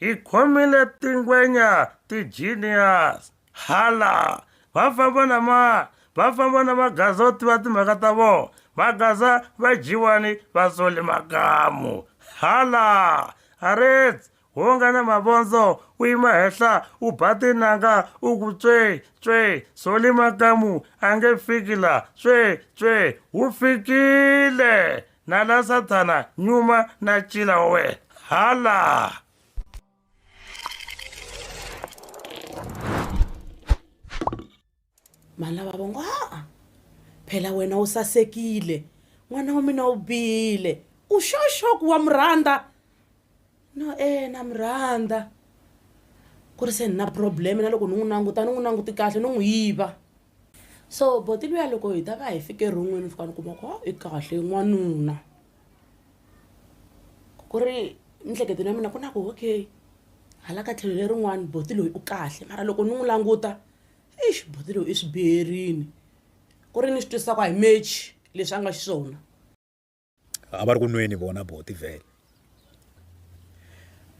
Hi khomile tingwenya ti-genius hala va famba na ma va famba na magaza yo tiva timhaka ta vona magaza va dyiwani va sole makamu hala arets wo nga na mavondzo u yima henhla u ba tinanga u ku tswe tswe sole makamu a nge fiki la tswe tswe wu fikile Na la Sathana, nyuma na cila wa wena. Hala! Malava va ngo, haa, phela wena u sasekile. N'wana wa mina u bile. U sure sure ku wa mu rhandza? No, eh, na mu rhandza. Ku ri se ni na problem na loko ni n'wi languta ni n'wi languti kahle no n'wi yiva. so boti luya loko hi ta va hi fike ron'wini fika ni kuma ku ha i kahle n'wanuna ku ri miehleketweni ya mina ku na ku okay hala ka tlhelo lerin'wani boti loyi u kahle mara loko ni n'wi languta eish boti loyi i swi biherini ku ri ni swi twisisa ku a hi mechi leswi a nga xiswona a va ri ku nweni vona buti vhele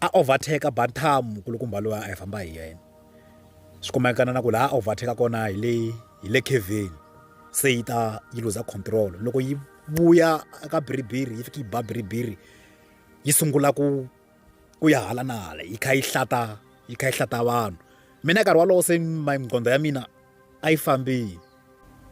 a overtake bantamu kulukumba loyi a hi famba hi yena swi kumekana na ku laha a overtake kona hi le hi le keveni se yi ta yi luza control loko yi vuya ka biribiri yi fika yi ba biribiri yi sungula ku ku ya hala na hala yi kha yi hlata yi kha yi hlata vanhu mina nkarhi wolowo se maqondo ya mina a yi fambile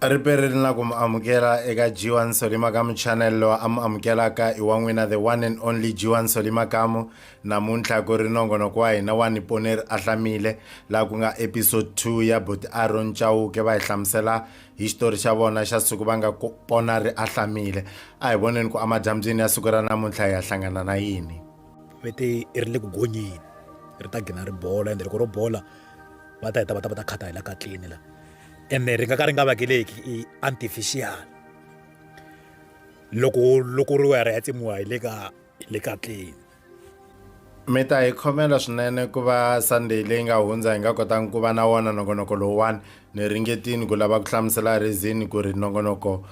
riperi ri na ku mu amukela eka g1 solima kamu channel lowu a mu amukelaka i wa n'wina the one and only g1 solima kamu namuntlha ku ri nongonoko wa hina wa niponeri a hlamile laha ku nga episode 2 ya boti aron chauke va hi hlamusela hi xitori xa vona xa siku va nga pona ri ahlamile a hi voneni ku amadyambyini ya siku ra namuntlha hi ya hlangana na yini vete ri le ku gonyeni ri ta gina ri bola ende loko ro bola va ta heta va ta va ta khata hi la ka tlini la ene ri nga ka ri nga vakeleki i artificial loko loko ri wera ya tsemiwa hi le ka hi le ka tlini mi ta hi khomela swinene ku va sunday leyi nga hundza hi nga kotangi ku va na wona nongonoko lowuwani ni ringetini ku lava ku hlamusela rizini ku ri nongonoko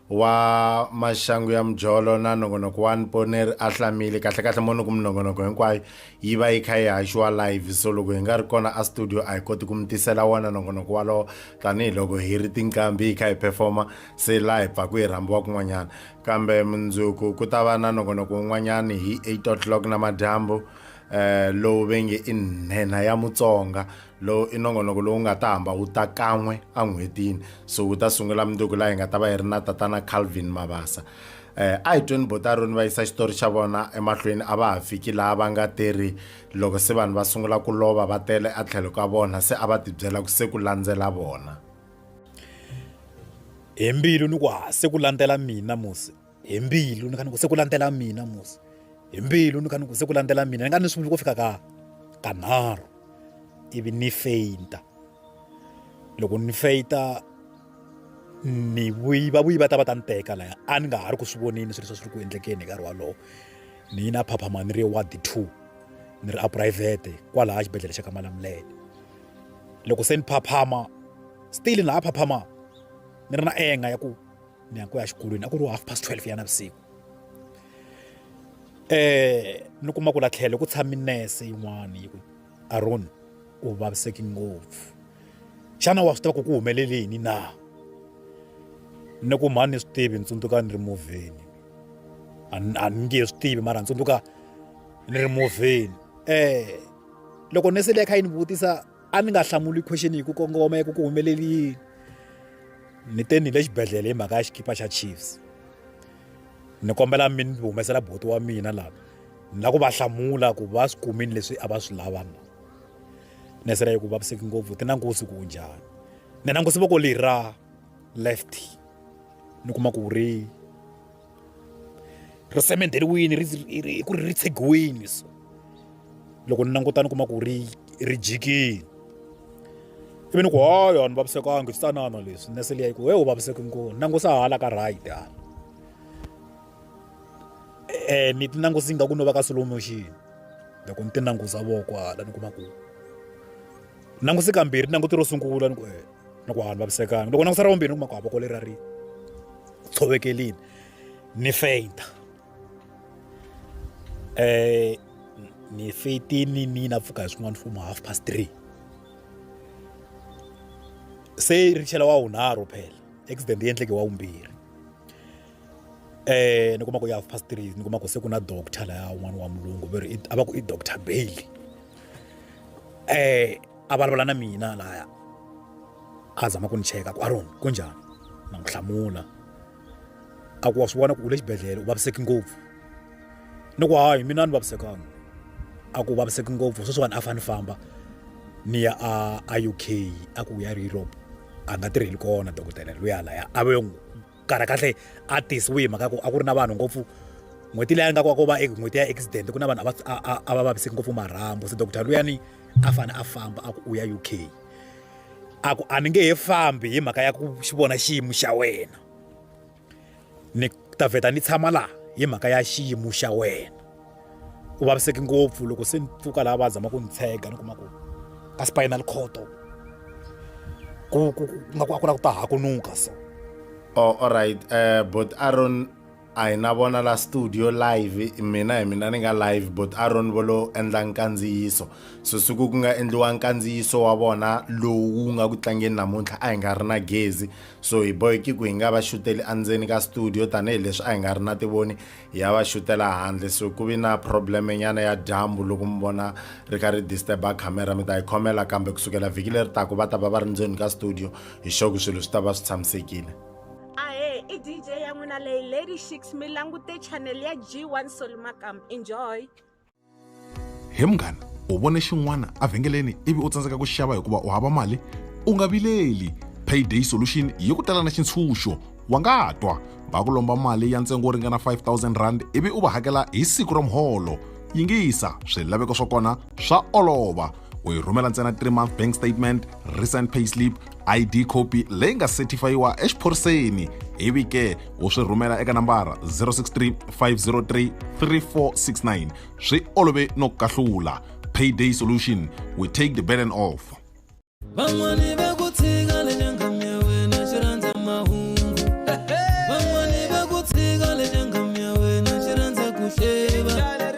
wa maxangu ya mujolo na nongonoko wa niponeri a hlamile kahlekahle moni ku minongonoko hinkwayo yi va yi kha yi haxiwa live so loko hi nga ri kona a studio a hi koti ku mi tisela wona nongonoko walowo tanihiloko hi ri tinqambi hi kha hi performa se laha hi pfaku hi rhambiwa kun'wanyana Kambe mundzuku ku ta va na nongonoko wun'wanyana hi 8 o'clock namadyambu um lowu ve nge i nhenha ya mutsonga lowu i nongonoko lowu nga ta hamba wu ta kan'we en'hwetini so wu ta sungula mundzuku laha hi nga ta va hi ri na tatana calvin mabasa um a hi tweni bo ta roni va yisa xitori xa vona emahlweni a va ha fiki laha va nga te ri loko se vanhu va sungula ku lova va tele a tlhelo ka vona se a va tibyela ku se ku landzela vona hi mbilu ni ku ha se ku landzela mina musi hi mbilu ni kha ni ku se ku landzela mina musi hi mbilu ni kha ni ku se ku landzela mina ni nga ni sunguli ku fika ka kanharhu ivi ni feyinta loko ni feyita ni vuyi va vuyi va ta va ta ni teka laya a ni nga ha ri ku swi vonini swilo swa swi ri ku endlekeni hi nkarhi wolowo ni yi na phaphama ni ri ward two ni ri a phurayivhete kwalaha xibedhlele xa ka malamulele loko se ni phaphama still na ha phaphama ni ri na enga ya ku ni ya ku ya xikolweni a ku ri half past 12 ya navusiku eh ni kuma ku la tlhelo ku tshami nurse yin'wana yi ku aron u vaviseki ngopfu xana wa swi tiva ku ku humelele yini na ni ku mhani ni swi tivi ni tsundzuka ni ri movheni a ni nge swi tivi mara ni tsundzuka ni ri movheni eh loko nese leyi kha yi ni vutisa a ni nga hlamuli question hi ku kongoma ya ku ku humeleli yini ni te ni le xibedhlele hi mhaka ya xikipa xa chiefs ni kombela mi ni humesela boti wa mina lava ni lava ku va hlamula ku va swi kumini leswi a va swi lava na nese leyi ku vaviseki ngopfu ti nangusi ku njhani ni nangusi voko leri ra left ni kuma ku ri ri semenderiwile ri hi ku ri ri tshegiwile so loko ni languta ni kuma ku ri ri jikile ivi ni ku hayi a ni vavisekanga swi tanana leswi nese liya yi ku he u vaviseki ngoni nangusa hala ka right hala um ni ti nangusi nga ku no va ka slow motion loko ni ti nangusa voko hala ni kuma ku langusi kambirhi languti ro sungula ni ku e ni ku hanu vavisekanga loko langusa ra vumbirhi ni kuma ku havoko leri ra ri tshovekelini ni feyinta um eh, ni feyitini ni na pfuka hi swin'wana fomo half past three se ri chela wa wunharhu phela accident yi endleke wa wumbirhi eh ni kuma ku ya half past three ni kuma ku se ku na doctor laya un'wana wa mulungu va ri a va ku i doctor bailey eh a vulavula na mina laya a zama ku ni cheka ku aron ku njhani na n'wi hlamula a ku wa swi vona ku u le xibedhlele u vaviseki ngopfu ni ku hayi mina ni vavisekanga a ku vaviseki ngopfu sweswiwani a fane famba ni ya a a uk a ku ya ri europe a nga tirheli kona dokodela luya laya a ve n'wi kahlekahle a tisiwe hi mhaka ya ku a ku ri na vanhu ngopfu n'hweti leyi a nga kwako va n'hweti ya accident ku na vanhu a va vaviseki ngopfu marhambo se doctor luyani a fanele a famba a ku u ya u k a ku a ni nge he fambi hi mhaka ya ku xi vona xiyimo xa wena ni ta vheta ni tshama laha hi mhaka ya xiyimo xa wena u vaviseki ngopfu loko se ni pfuka laha va zama ku ni tshega ni kuma ku ka spinal coto ku ku nga ku a ku la ku ta hakunuka so oh alright uh, eh, but aron a hi na vona la studio live mina hi mina ni nga live but aron vo lo endla nkandziyiso so siku ku nga endliwa nkandziyiso wa vona lowu wu nga ku tlangeni namuntlha a hi nga ri na gezi so hi boheki ku hi nga va xuteli endzeni ka studio tanihileswi a hi nga ri na tivoni ya va xutela handle so ku vi na probleme nyana ya dyambu loko mi vona ri ka ri disturba camera mi ta yi khomela kambe ku sukela vhiki leri taku va ta va va ri ndzeni ka studio hi xoku swilo swi ta va swi tshamisekile ahe i dj ya n'wina leyi lady shix mi langute channel ya g1 soli makam enjoy he munghana u vone xin'wana evhengeleni ivi u tsandzeka ku xava hikuva u hava mali u nga vileli payday solution yi ku tala na xintshunxo wa nga twa va ku lomba mali ya ntsengo wo ringana 5000 rand ivi u va hakela hi siku ra muholo yingisa swilaveko swa kona swa olova u yi rhumela ntsena 3 month bank statement recent payslip id copy leyi nga certifayiwa exiphoriseni ivi ke u swi rhumela eka nambara 063 503 3469 swi olove no kahlula payday solution we take the burden off van'wani va ku tshika le nyangami ya wena xi rhandza mahungu van'wani va ku tshika le nyangami ya wena xi rhandza ku hleva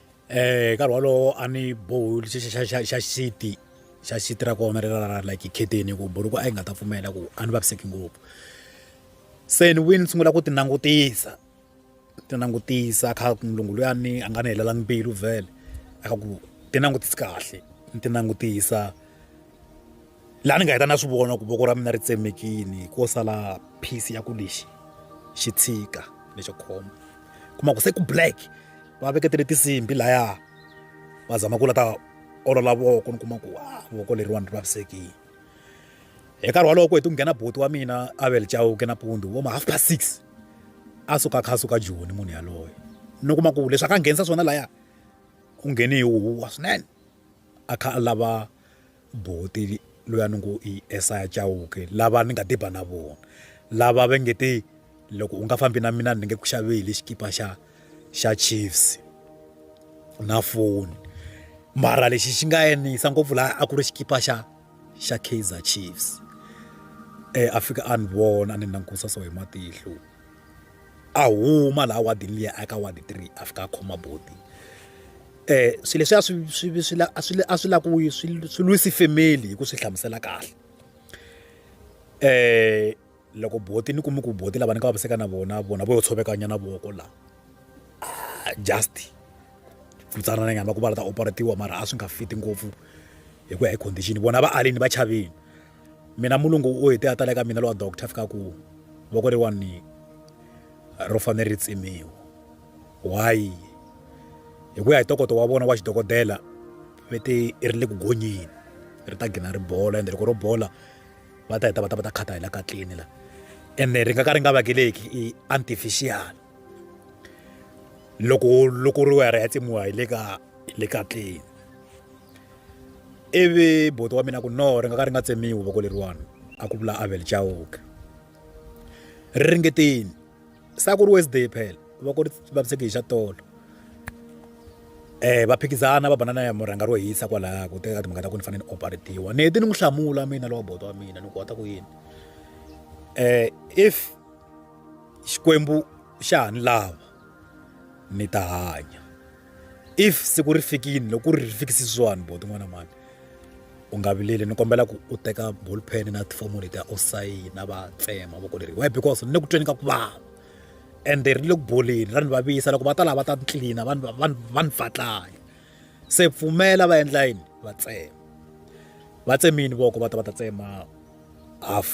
hi nkarhi wolowo a ni bohi xa xa xa xa xiti xa xiti ra kona leri ra like khetheni ku buruku a yi nga ta pfumela ku a ni vaviseki ngopfu se ni vuye ni sungula ku ti langutisa ti langutisa kha mulungu luyani a nga ni helelangi mbilu vhele a kha ku ti langutisi kahle ni ti langutisa laha ni nga heta na swi vona ku voko ra mina ri tsemekini ko sala piece ya ku lexi xi tshika lexo khoma kuma ku se ku black va veketele tinsimbhi laya va zama ku la ta olola voko ni kuma ku wa voko leriwani ri vavisekile hi nkarhi walowo ku heti ku nghena boti wa mina avel chauke nampundzu vo ma half past six a suka kha a suka joni munhu yaloye ni kuma ku leswi a ka nghenisa swona laya u nghene hi huwa swinene a kha a lava Buti luya ni ngo i Esaya Chauke lava ni nga tiba na vona lava va nge te loko u nga fambi na mina ni nge ku xaveli xikipa xa xa Chiefs na foni mara lexi xi nga yisa ngopfu laha a ku ri xikipa xa xa Kaizer Chiefs a fika a ni vona a ni langutisa so hi matihlo. a huma laha wadini liya a ya ka wadi three a fika a khoma buti swilo leswiya swi swi swi la a swi a swi lava ku swi swi lwisi family hi ku swi hlamusela kahle loko buti ni kume ku buti lava ni nga vaviseka na vona vona vo yo tshoveka nyana voko laha just futsanana nyana va ku va la ta operate-iwa mara a swi nga fit ngopfu hi ku ya hi condition vona va alini va chavile. mina mulungu u hete a tala eka mina lowa doctor fika ku voko leriwani ro fanele ri tsemiwa why hi ku ya hi tokoto wa vona wa xidokodela ve te i ri le ku gonyeni ri ta gina ri bola ende loko ro bola va ta heta va ta va ta khata hi la ka tlini la ende ri nga ka ri nga vakeleki i artificial loko loko ri wa ya ri ya tsemiwa hi le ka le ka tlini ivi buti wa mina ku no ri nga ka ri nga tsemiwi voko leriwani a ku vula avel chauka ri ringetini sa ku ri wednesday phela voko ri vaviseki hi xa tolo um va phikizana va banana ya murhanga ro hisa kwalaya ku teka timhaka ta ku ni fanele ni operatiwa ni heti ni n'wi hlamula mina lowa bodo wa mina ni ku wata ku yini um if xikwembu xa ha ni lava ni ta hanya if siku ri fikile loko ri fikisi swani bo tin'wana mani u nga vileli ni kombela ku u teka bullpen na tifomo leti u sayina va tsema voko leri why because ni le ku tweni ka ku vava ende ri le ku boleni ra ni vavisa loko va ta lava ta ni tlilina va ni fatlanya se pfumela va endla yini va tsema va tsemini voko va ta va ta tsema half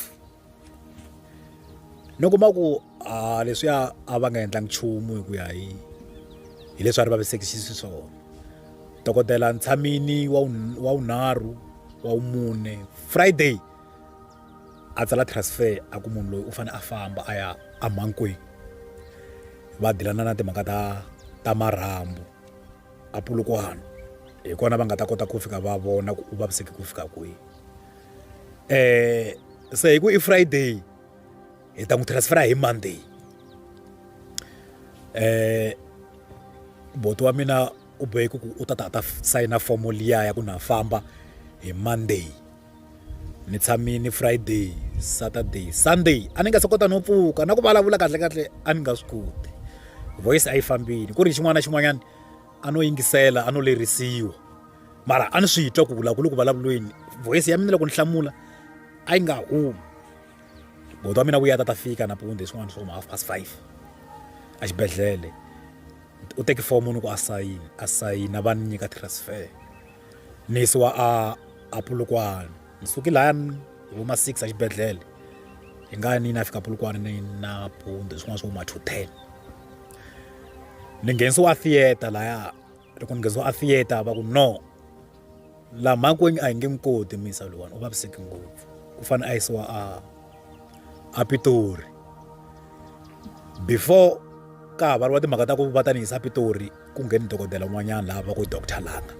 ni kuma ku a leswiya a va nga endlangi nchumu hi ku ya hi hi leswi a ri vavisekisi xiswona dokodela ntshamini wa wa wunharhu wa wumune friday a tsala transfer a ku munhu loyi u fanele a famba a ya amhankwini va dilana na timhaka ta ta marhambu a pulukwana hi kona va nga ta kota ku fika va vona ku u vaviseki ku fika kwihi eh se hi ku i Friday hi ta n'wi transfer hi Monday eh boto wa mina u bohe ku u ta ta ta sayina fomo liya ya ku na famba hi Monday ni tshamini Friday Saturday Sunday a ni nga se kota no pfuka na ku vulavula kahle kahle a ni nga swi koti voice a yi fambile ku ri xin'wana na xin'wanyana a no yingisela a no lerisiwa mara a ni swi twa ku vula ku le ku vulavulweni voyisi ya mina loko ni hlamula a yi nga humi bodo wa mina vuya ta ta fika napunde hi swin'wana swo ma half past five exibedhlele u teki fomo ni ku asayini asayina va ni nyika transfer ni yisiwa a a pulukwana ni suki lahayani hi vo ma six exibedhlele hi nga ni na fika pulukwana ni na punde swin'wana swo ma two ten ni nghenisiwa a theater laya loko ni nghenisiwa a theater va ku no laha makwenu a hi nge n'wi koti misa lowani u vaviseki ngopfu u fanele a yisiwa a a pitori before ka ha variwa timhaka ta ku va ta ni yisa pitori ku ngheni dokodela un'wanyana laha va ku doctor langa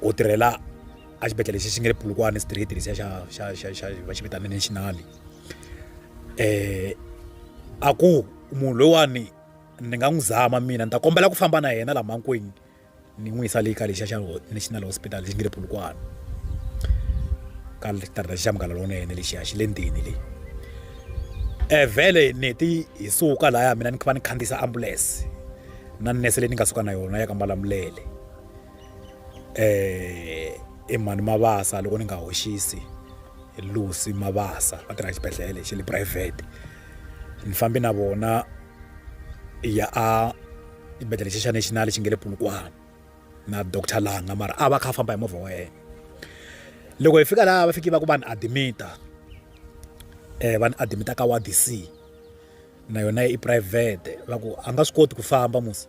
u tirhela a xibedhlele lexi xi nge le pulukwane street lexiya xa xa xa xa va xi vitana national a ku munhu loyiwani ni nga n'wi zama mina ni ta kombela ku famba na yena laha makwenu ni n'wi yisa le ka lexiya xa national hospital lexi nge le Polokwane ka xitarateni xa Munghana Lonene lexiya xi le ndzeni le vhele ni heti hi suka lahaya mina ni kha ni khandziyisa ambulense na nurse leyi ni nga suka na yona ya ka Malamulele. eh i mhani mabasa loko ni nga hoxisi lucy mabasa va tirha xibedhlele xi le private ni fambe na vona ya a xibedhlele xi xa national xi nge le pulukwana na doctor langa mara a va kha a famba hi movha wa yena loko hi fika laha va fiki va ku va ni admita um va ni admita ka ward c na yona i private va ku a nga swi koti ku famba musi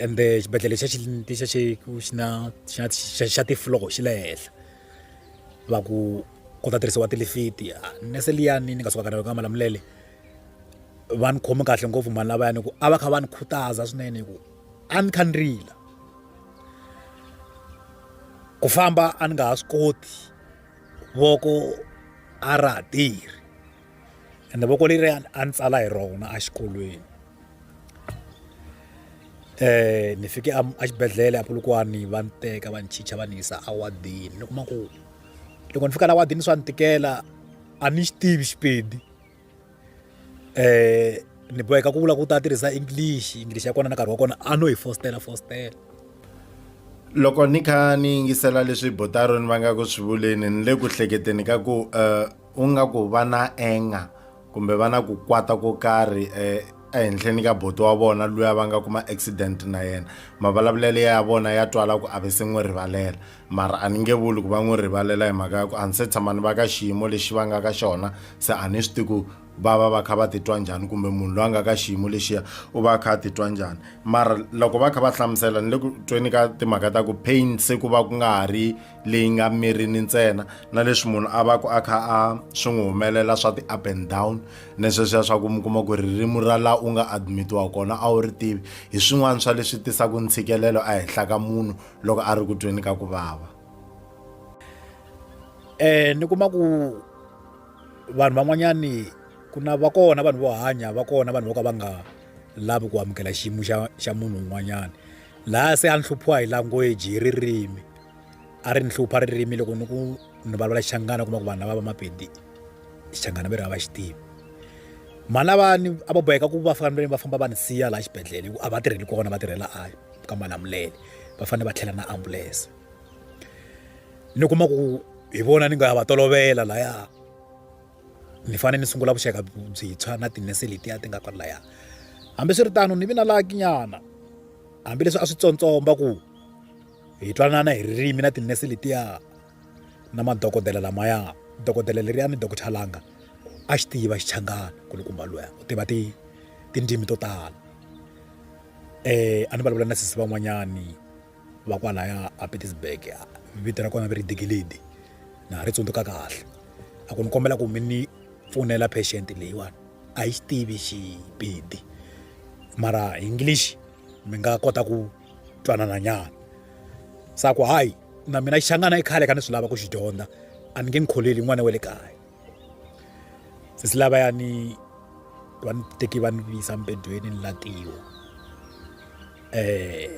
ende xibedhlele xa xa xeku xi na xa xa xa tifloro xi le henhla va ku ku ta tirhisiwa tilifiti nurse liyani ni nga suka ka rona ka malamulele va ni khome kahle ngopfu mhani lavayani hikuva a va kha va ni khutaza swinene hikuva a ni kha ni rila ku famba a ni nga ha swi koti voko a ra ha tirhi. ende voko leri a ni tsala hi rona exikolweni um ni fike exibedhlele apulukwani va ni teka va ni chicha va ni yisa awadini ni kuma ku loko ni fika la wadini swa ni tikela a ni xi tivi xipedi um ni boheka ku vula ku ta tirhisa english english ya kona na nkarhi wa kona a no hi fostela fostela loko ni kha ni yingisela leswi botaro ni va nga ku swi vuleni ni le ku hleketeni ka ku um u nga ku va na enga kumbe va na ku kwata ko karhi eh, ehenhleni ka boto wa vona luya va nga kuma accident na yena mavulavulelo ya vona ya twala ku a ve se n'wi rivalela mara a ni nge vuli ku va n'wi rivalela hi mhaka ya ku a ni se tshama ni va ka xiyimo lexi va nga ka xona se a ni swi ti ku va va va kha va titwa njhani kumbe munhu loyi a nga ka xiyimo lexiya u va a kha a titwa njhani mara loko va kha va hlamusela ni le ku tweni ka timhaka ta ku pain se ku va ku nga ha ri leyi nga mirini ntsena na leswi munhu a va ku a kha a swi n'wi humelela swa ti-up and down ni sweswiya swa ku mi kuma ku ririmi ra laha u nga admitiwa kona a wu ri tivi hi swin'wana swa leswi tisaka ntshikelelo ehenhla ka munhu loko a ri ku tweni ka ku vava um ni kuma ku vanhu van'wanyani ku na va kona vanhu vo hanya va kona vanhu vo ka va nga lavi ku amukela xiyimo xa xa munhu un'wanyana laha se a ni hluphiwa hi language hi ririmi a ri ni hlupha ririmi loko ni ku ni vulavula xixangana kuma ku vanhu lava va mapedi xixangana va ri a va xi tivi mhani lavani a va boheka ku va fanele va famba va ni siya laha xibedhlele hikuva a va tirheli kona va tirhela a ka malamulele va fanele va tlhela na ambulense ni kuma ku hi vona ni nga ya va tolovela laya ni fanele ni sungula vuxaka byintshwa na tinese letiya ti nga kwala laya hambiswiritano ni vi na lakinyana hambileswi a swi tsontsomba ku hi twanana hi ririmi na tinese letiya na madokodela lamaya dokodela leriya ni dokodela langa a xi tiva xichangana kulukumba luya u tiva ti tindzimi to tala um a ni vulavula na sisi van'wanyani va kwalaya a petersburg vito ra kona va ri digilidi na ha ri tsundzuka kahle a ku ni kombela ku mi ni pfunela patient leyiwani a yi xi tivi xipedi mara english mi nga kota ku twanana nyana sa ku hayi na mina xangana i khale ka ni swi lava ku xi dyondza a ni nge ni kholeli n'wana wa le kaya sesi lava ya ni va ni teki va ni visa mpedweni ni latiwa um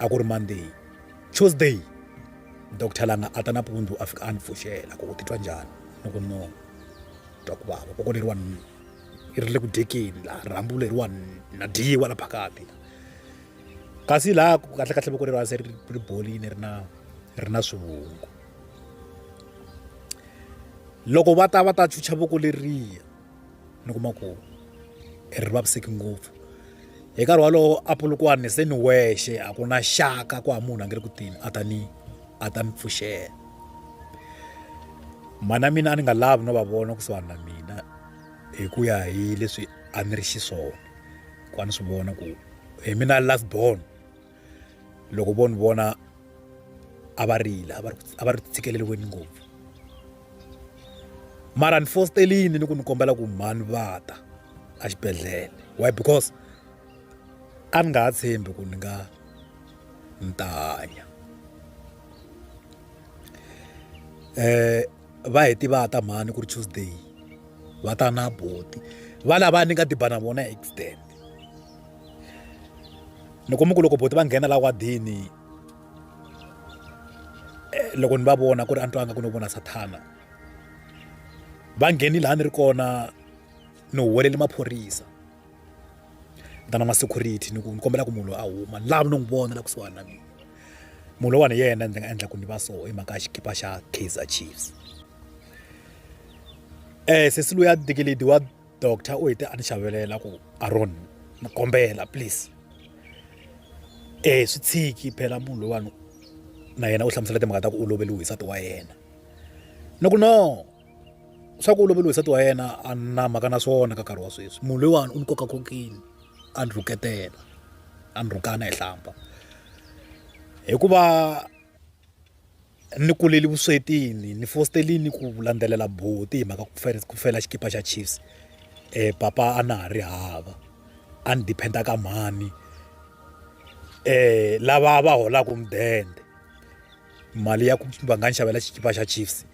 a ku ri monday tuesday doctor langa a ta nampundzu a fika a ni pfuxela ku u titwa njhani ni ku no twa ku vava koko leriwa ri le ku dyekeni laha rhambu leriwa na dyiwa la phakati kasi laha ku kahle kahle voko leri hansi ri ri bolini ri na ri na swivungu loko va ta va ta chucha voko leriya ni kuma ku ri vaviseki ngopfu hi nkarhi walowo apulukwani se ni wexe a ku na xaka ku ha munhu a nge ri ku tini a ta ni a ta ni pfuxela mhana mina a ni nga lavi no va vona kusuhani na mina hi ku ya hi leswi a ni ri xiswona ku a ni swi vona ku hi mina last born loko vo ni vona a va rila a va ri a va ri tshikeleriweni ngopfu mara ni fosterini ni ku ni kombela ku mhani va ta a xibedhlele why because a ni nga ha tshembi ku ni nga ni ta hanya um va hi tiva ta mhani ku ri tuesday va ta na boti va lava ni nga diba na vona accident ni kuma ku loko boti va nghena la wadini eh, loko ni va vona ku ri a ni twanga ku no vona sathana va ngheni laha ni ri kona ni huwelele maphorisa vitana ma security ni ku ni kombela ku munhu loyi a huma ni lava no n'wi vona la kusuhani na mina munhu loyiwani hi yena ndzi nga endla ku ni va so hi mhaka ya xikipa xa kaizer chiefs um sesi loyi a dikeledi wa doctor u hete a ni xavelela ku aron ni kombela please um swi tshiki phela munhu loyiwani na yena u hlamusela timhaka ta ku u loveliwe hi nsati wa yena ni ku no swa ku u loveriwe nsati wa yena a na mhaka na swona ka nkarhi wa sweswi munhu loyiwani u ni koka kokini a ni rhuketela a ni rhukana hi hlamba hikuva ni kuleli vuswetini ni fositelini ku landzelela boti hi mhaka ku fela xikipa xa chiefs um papa a na ha ri hava a ni diphenda ka mhani um lava va holaka mudende mali ya ku va nga ni xavela xikipa xa chiefs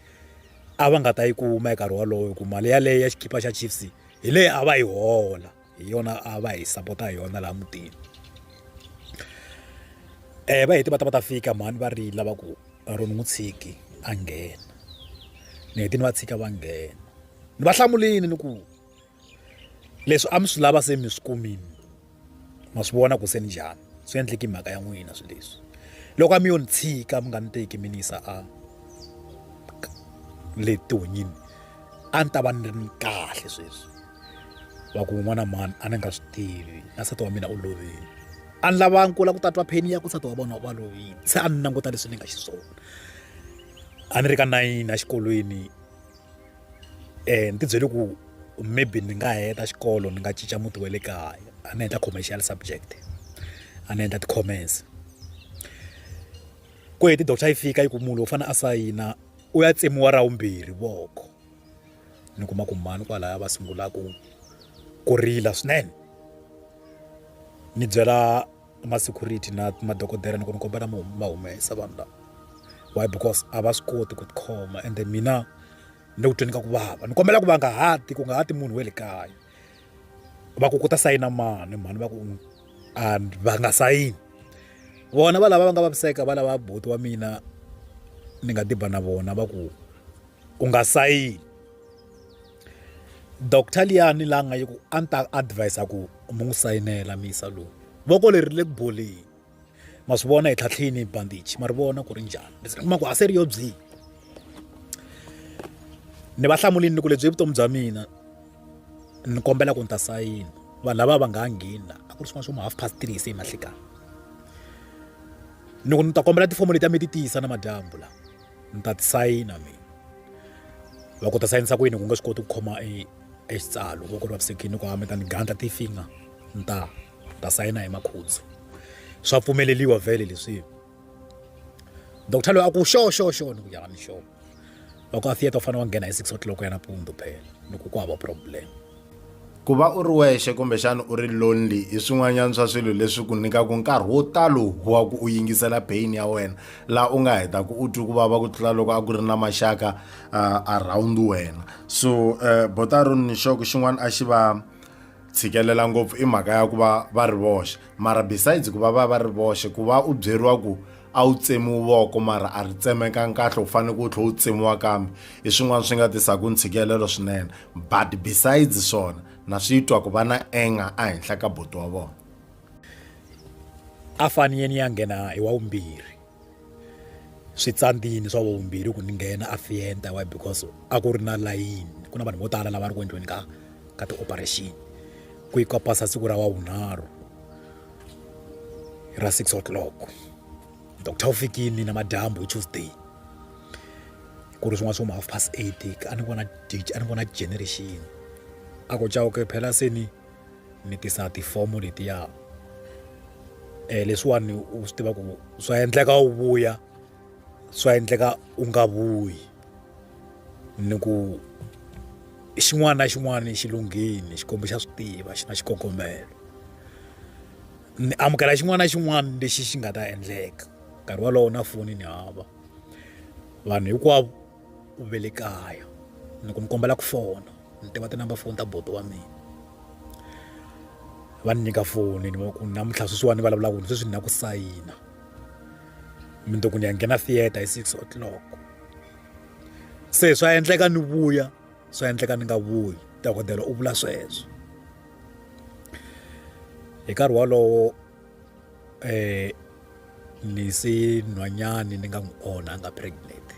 a va nga ta yi kuma hi nkarhi wolowo hi ku mali yaleyo ya xikipa xa chiefs hi leyi a va yi hola hi yona a va hi sapota hi yona laha mutini um va heti va ta va ta fika mhani va rila va ku ro ni n'wi tshiki a nghena ni heti ni va tshika va nghena ni va hlamulini ni ku leswi a mi swi lava se mi swi kumile ma swi vona ku se ni njhani swi endleki mhaka ya n'wina swi leswi loko a mi yo ni tshika mi nga ni teki mi ni yisa a le tihonyini a ni ta va ni ri ni kahle sweswi va ku n'wana mani a ni nga swi tivi na nsati wa mina u lovile a ni lava nkula ku tatwa pheni ya ku nsati wa vona va lovile se a ni languta leswi ni nga xiswona a ni ri ka nayini exikolweni um ni ti byele ku maybe ni nga heta xikolo ni nga cinca muti wa le kaya a ni endla commercial subject a ni endla ti-commerce ku heti doctor yi fika yi ku munhu u fanele a sayina u ya tsemiwa ra vumbirhi voko ni kuma ku mhani kwalaya va sungulaka ku rila swinene ni byela ma security na madokodela ni ku ni kombela ma ma humesa vanhu lava why because a va swi koti ku tikhoma ende mina ni le ku tweni ka ku vava ni kombela ku va nga hati ku nga hati munhu we le kaya va ku ku ta sayina mani mhani va ku and va nga sayini vona va lava va nga vaviseka va lava buti wa mina ni nga diba na vona va ku u nga sayini doctor liyani la nga yi ku a ni ta advise ku mi n'wi sayinela misa lowu voko leri ri le ku boleni ma swi vona hi tlhatlhini hi bandage ma ri vona ku ri njhani ni kuma ku a se ri yo byi ni va hlamulini ni ku lebyi vutomi bya mina ni kombela ku ni ta sayina vanhu lava va nga ha ngheni a ku ri swin'wana swo ma half past three se hi mahlekani ni ku ni ta kombela tifomo leti a mi ti tiyisa na madyambu lawa ni ta ti sayina mina loko ta sayinisa ku yini ku nga swi koti ku khoma e exitsalo loko ri vavisekile ku hambeta ni gandla tifinga ni ta ta sayina hi makhudzi swa pfumeleliwa vhele leswi doctor loyi a ku xo xo xo ni ku yana xo loko a theatre u fanele wa nghena hi six o'clock ya nampundzu phela loko ku hava problem ku va u ri wexe kumbexana u ri lonely hi swin'wanyana swa swilo leswi ku nyikaka nkarhi wo talo wa ku u yingisela pain ya wena laha u nga hetaka u twi ku vava ku tlula loko a ku ri na maxaka uh, around wena so uh, eh, botaro ni xoko xin'wana a xi va tshikelela ngopfu i mhaka ya ku va va ri voxe mara besides ku va va va ri voxe ku va u byeriwa ku a wu tsemiwi voko mara a ri tsemekangi kahle u faneke u tlhela u tsemiwa kambe hi swin'wana swi nga tisaka ntshikelelo swinene but besides swona na swi twa ku va na anger ehenhla ka buti wa vona a faniyeni ya nghena hi wa vumbirhi switsandzini swa vumbirhi ku ni nghena a fienta why because a ku ri na layini ku na vanhu vo tala lava ri ku endliweni ka ka ti-operation ku yi kopasa siku ra wavunharhu hi ra six o'clock doctor u fikile namadyambu hi tuesday ku ri swin'wana swo ma half past eight a ni vona a ni vona generation a ku cawuke phela se ni ni tisa tifomo letiya um leswiwani u swi tiva ku swa endleka u vuya swa endleka u nga vuyi ni ku xin'wana na xin'wana xi lunghile xikwembu xa swi tiva xi na xikongomelo ni amukela xin'wana na xin'wana lexi xi nga ta endleka nkarhi wolowo na foni ni hava vanhu hinkwavo u ve le kaya ni ku mi kombela ku fona ni tiva tinamba foni ta bodo wa mina va ni nyika foni ni va ku namuntlha sweswiwani ni vulavulaka sweswi ni na ku sayina mi ni ku ni ya nghena theatre hi six o'clock se swa endleka ni vuya swa endleka ni nga vuyi dokodela u vula sweswo hi nkarhi wolowo eh ni se nhwanyani ni nga n'wi onha a nga pregnant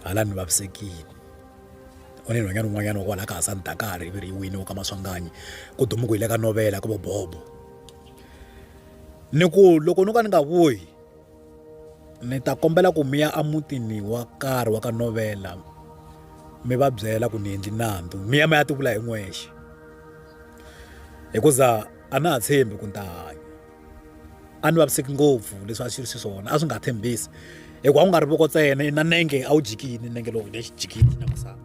hala ni vavisekile u ni nhwanyana un'wanyana wa kwala ka ha sani dakari ivi ri yi wini wa ka maswanganyi ku dumu ku hi le ka novela ku vo bobo ni ku loko no ka ni nga vuyi ni ta kombela ku mi ya emutini wa karhi wa ka novela mi va byela ku ni endli nandzu mi ya mi ya tivula hi n'wexe hikuza a na ha tshembi ku ni ta hanya a ni vaviseki ngopfu leswi a swi ri xiswona a swi nga tshembisi hikuva a ku nga ri voko ntsena na nenge a wu jikini nenge lowu lexi jikini na misava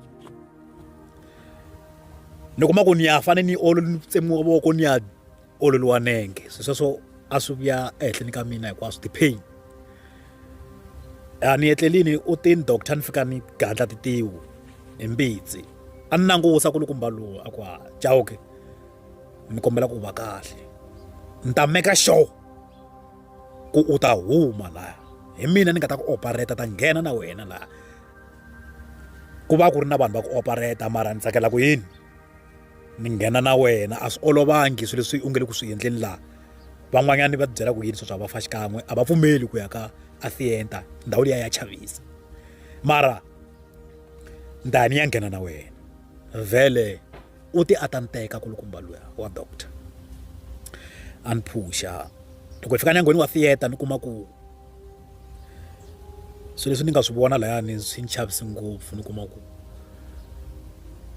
ni kuma ku ni ya fane ni olo ni tsemiwa voko ni ya ololiwa nenge se sweswo a swi vuya ehenhleni ka mina hinkwaswo ti-pain a ni etlelini u tini doctor ni fika ni gandla titiwu hi mbitsi a ni langusa ku lukumba lowu a ku ha jawuke ni kombela ku va kahle ni ta meka sure ku u ta huma laha hi mina ni nga ta ku opereta ta nghena na wena laha ku va ku ri na vanhu va ku opereta mara ni tsakela ku yini ni nghena na wena a swi olovangi swilo leswi u nge le ku swi endleni laha van'wanyana va tibyela ku yini swa swa va fa xikan'we a va pfumeli ku ya ka athienta ndhawu liya ya chavisa mara ni ta ya ni ya nghena na wena vhele u ti a ta ni teka kulukumba luya wa doctor a ni phuxa loko hi fika nyangweni wa theater ni kuma ku swilo leswi ni nga swi vona layani swi ni chavisa ngopfu ni kuma ku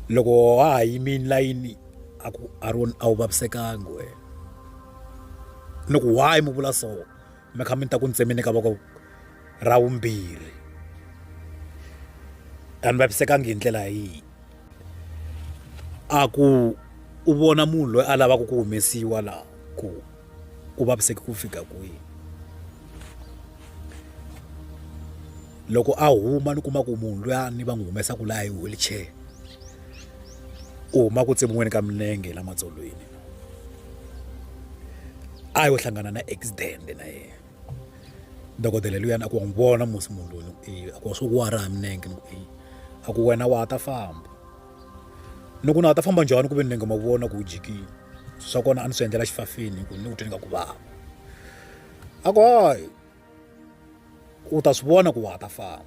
loko wa ha yimile layini a ku a ri a wu vavisekanga wena ni ku why mi vula so mi kha mi ta ku ni tsemeni ka voko ra vumbirhi a ni vavisekanga hi ndlela yihi a ku u vona munhu loyi a lavaka ku humesiwa laha ku u vaviseke ku fika kwihi loko a huma ni kuma ku munhu luya ni va n'wi humesaka laha hi wheelchair u huma ku tsemiweni ka milenge la matsolweni a yo hlangana na accident na yena dokodela luyani a ku wa n'wi vona musi munhu loyi a ku wa swo ku wa raha milenge ni ku a ku wena wa ha ta famba ni ku na a ta famba njhani ku ve ni nga ma vona ku u jikile swa kona a ni swi endlela xifafini hi ku ni ku twe ni nga ku vava a ku hayi u ta swi vona ku wa ha ta famba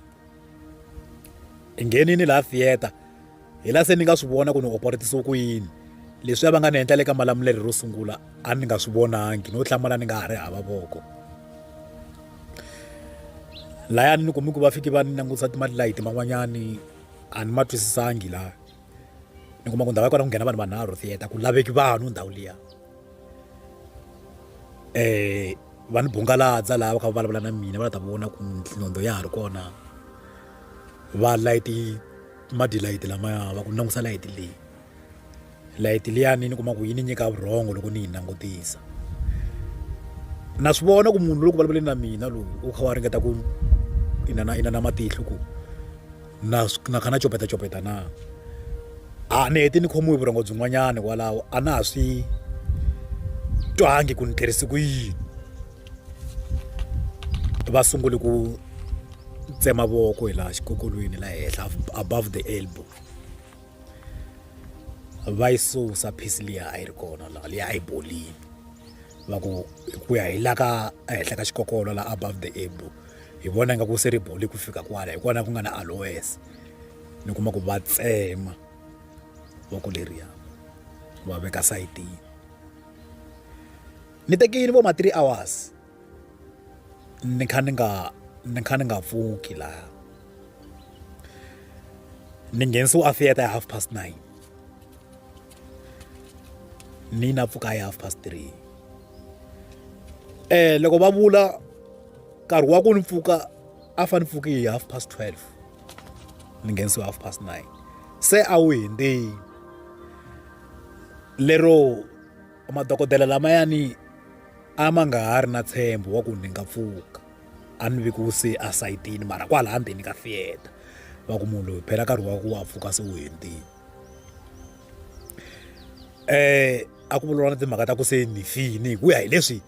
hi nghenini laha theater hi la se ni nga swi vona ku ni operetisiwe ku yini leswi a va nga ni endla le ka malamulelo ro sungula a ni nga swi vonangi no hlamala ni nga ha ri hava voko layani ni kumi ku va fiki va ni langutisa timali layiti man'wanyani a ni ma twisisangi laha ni kuma ku ndhawu ya kona ku nghena vanhu vanharhu theatre ku laveki vanhu ndhawu liya um va ni bungaladza laha va kha va vulavula na mina va la ta vona ku nhlondo ya ha ri kona va layiti madilayiti lamaya va ku langusa layiti leyi layiti liyani ni kuma ku yi ni nyika vurhongo loko ni yi langutisa na swi vona ku munhu loko vulavuleni na mina loyi u kha wa ringeta ku inana inana matihlo ku na na kha na copeta copeta na a ni heti ni khomiwe vurhongo byin'wanyana kwalaho a na ha swi twangi ku ni tirhisi ku yini va sungule ku tsema voko hi laha xikokolweni la henhla above the elbow va yi susa piece liya a yi ri kona laha liya a yi bolini va ku hi ku ya hi la ka ehenhla ka xikokolo la above the able hi vona nga ku se ri boli ku fika kwala hi kona ku nga na aloes ni kuma ku va tsema voko leriya va veka sayitini ni tekile vo ma three hours ni kha ni nga ni kha ni nga pfuki laha ni nghenisiwe a theatre ya half past nine ni na pfuka ya half past three eh loko va vula nkarhi wa ku ni pfuka a fa ni pfuki hi half past twelve ni nghenisiwe half past nine se a wu hindzini lero madokodela lamayani a ma nga ha ri na tshembo wa ku ni nga pfuka a ni vi ku se a sayitini mara kwalaha ndzeni ka fiyeta va ku munhu loyi phela nkarhi wa ku wa pfuka se wu hendini um a ku vulavula na timhaka ta ku se ni fini hi ku ya hi leswi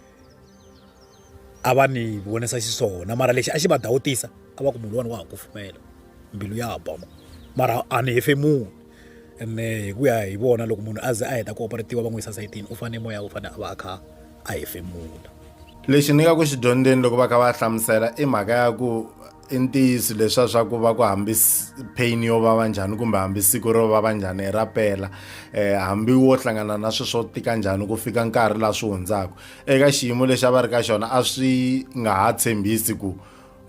a va ni vonisa xiswona mara lexi a xi va dawutisa a va ku munhu wani wa ha kufumela mbilu ya ba mara a ni hefemuni ene hi ku ya hi vona loko munhu a ze a heta ku operatiwa va n'wi yisa sayitini u fanele moya u fanele a va a kha a hefemula lexi ni nga ku xi dyondzeni loko va kha va hlamusela i mhaka ya ku i ntiyiso leswa swa ku va ku hambi pain yo vava njhani kumbe hambi siku ro vava njhani i ra pela um hambi wo hlangana na swi swo tika njhani ku fika nkarhi laha swi hundzaka eka xiyimo lexi a va ri ka xona a swi nga ha tshembisi ku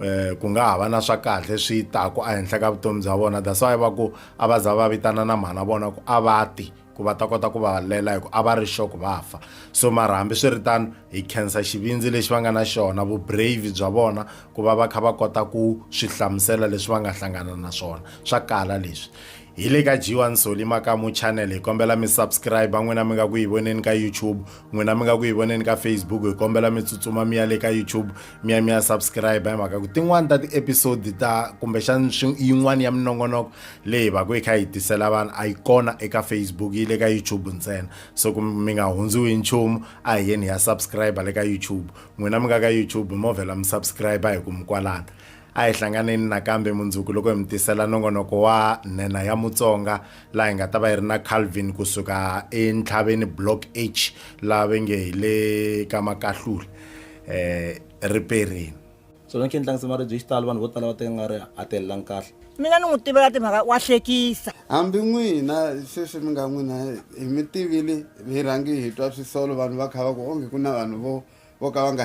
um ku nga ha va na swa kahle swi taku ehenhla ka vutomi bya vona that's why va ku a va za va vitana na mhana vona ku a va ti ku va ta kota ku va lela hi ku a va ri sure ku va fa so mara hambiswiritano hi khensa xivindzi lexi va nga na xona vubrave bya vona ku va va kha va kota ku swi hlamusela leswi va nga hlangana na swona swa kala leswi hi le ka jiwa nsoli makamu channel hi kombela mi subscribe n'wina mi nga ku yi voneni ka youtube n'wina mi nga ku yi voneni ka facebook hi kombela mi tsutsuma mi ya le ka youtube mi ya mi ya subscribe hi mhaka ku tin'wani ta ti-episode ta kumbexani yin'wani ya minongonoko leyi va ku yi kha yi tisela vanhu a yi kona eka facebook yi le ka youtube ntsena so ku mi nga hundziwi hi nchumu a hi yeni ya subscribe le ka youtube n'wina mi nga ka youtube mo vhela mi subscribe hi ku mi kwalana a hi hlanganeni nakambe mundzuku loko hi mi tisela nongonoko wa nhenha ya mutsonga laha hi nga ta va hi ri na calvin kusuka entlhaveni block h laha ve nge hi le ka makahlula um eh, riperini swona swi endla nsimaribye hi xitalo vanhu vo tala va teka nga ri a telelangi kahle mina ni n'wi tivela timhaka wa hlekisa hambi n'wina sweswi mi nga n'wina hi mi tivile hi rhangi hi twa swisolo vanhu va kha va ku onge ku na vanhu vo vo ka va nga